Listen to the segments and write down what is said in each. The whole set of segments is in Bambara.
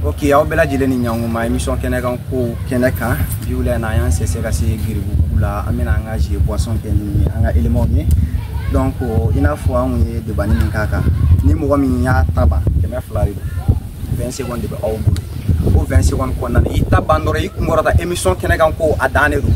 ok aw bɛɛ lajɛlen ni ɲankuma émission kɛnɛ kan kow kɛnɛ kan bi wula in na an y'an sɛsɛ ka se giribugu la an bɛna an ka jeu boisson kɛ ni an ka éléments ye donc i n'a fɔ an kun ye debani min k'a kan ni mɔgɔ min y'a ta ban kɛmɛ fila de don 20 secondes de bɛ aw bolo o 20 secondes kɔnɔna na i ta ban dɔrɔn i kunkɔrɔta émission kɛnɛ kan kow a dan de don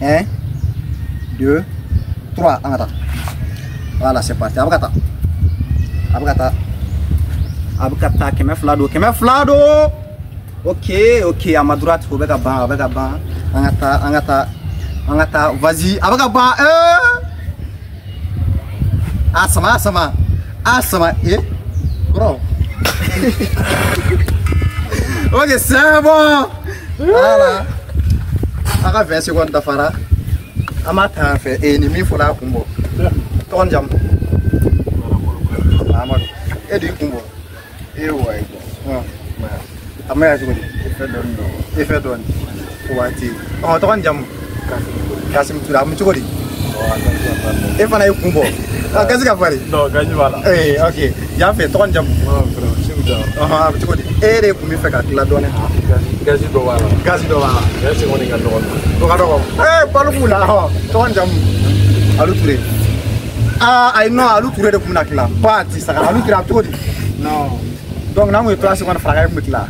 1 2 3 an ka taa voilà c'est parti a bɛ ka taa a bɛ ka taa a bɛ ka taa kɛmɛ fila don kɛmɛ fila don ok ok à ma droite o bɛ ka ban a bɛ ka ban an ka taa an ka taa an ka taa vas-y a bɛ ka ban ee a sama a sama a sama ye kɔrɔ ok c'est bon voilà a ka 20 secondes dafara an b'a ta yan fɛ ee nin min fɔlɔ y'a kun bɔ tɔgɔ ni jamu amadu e de y'i kun bɔ ee ouais a ma ya cogo di e fɛ dɔɔni dɔn e fɛ dɔɔni o waati ɔ tɔgɔ ni jamu kasimu ture a bɛ cogo di e fana y'i kun bɔ a gazi ka fari ee ok yan fɛ tɔgɔ ni jamu a bɛ cogo di e de tun bɛ fɛ ka tila dɔɔni gazi dɔ b'a la gazi dɔ b'a la gazi kɔni ka dɔgɔ o ka dɔgɔ ee balo b'u la ɔ tɔgɔ ni jamu alu ture aa ayi non alu ture de tun bɛna tila ba ti saga alu ture a bɛ cogo di non donc n'an kun ye 3 secondes fara a kan e kun bɛ tila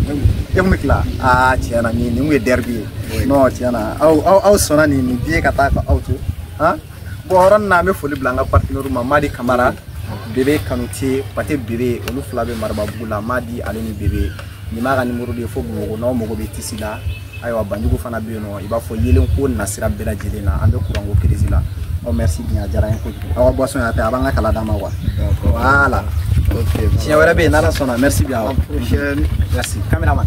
e kun bɛ tila aa tiɲɛ na nin nin kun ye derbi ye non tiɲɛ na aw aw aw sɔnna nin nin diɲɛ ka taa ka aw to han bon yɔrɔ nin na an bɛ foli bila an ka partenaire ma madi kamara bebe kanute pate bebe olu fila bɛ marababugu la madi ale ni bebe nin b'a ka nimoro de ye fo bamakɔ n'aw mago bɛ tisi la ayiwa banjugu fana bɛ yen non i b'a fɔ yeelenko nasira bɛɛ lajɛlen na an bɛ kuranko kirisi la ɔ merci bien a diyara n ye kojugu aw ka boisson y'a tɛ a b'an ka kala d'an ma wa voilà siɲɛ wɛrɛ bɛ yen n'ala sɔnna merci bien awa merci caméraman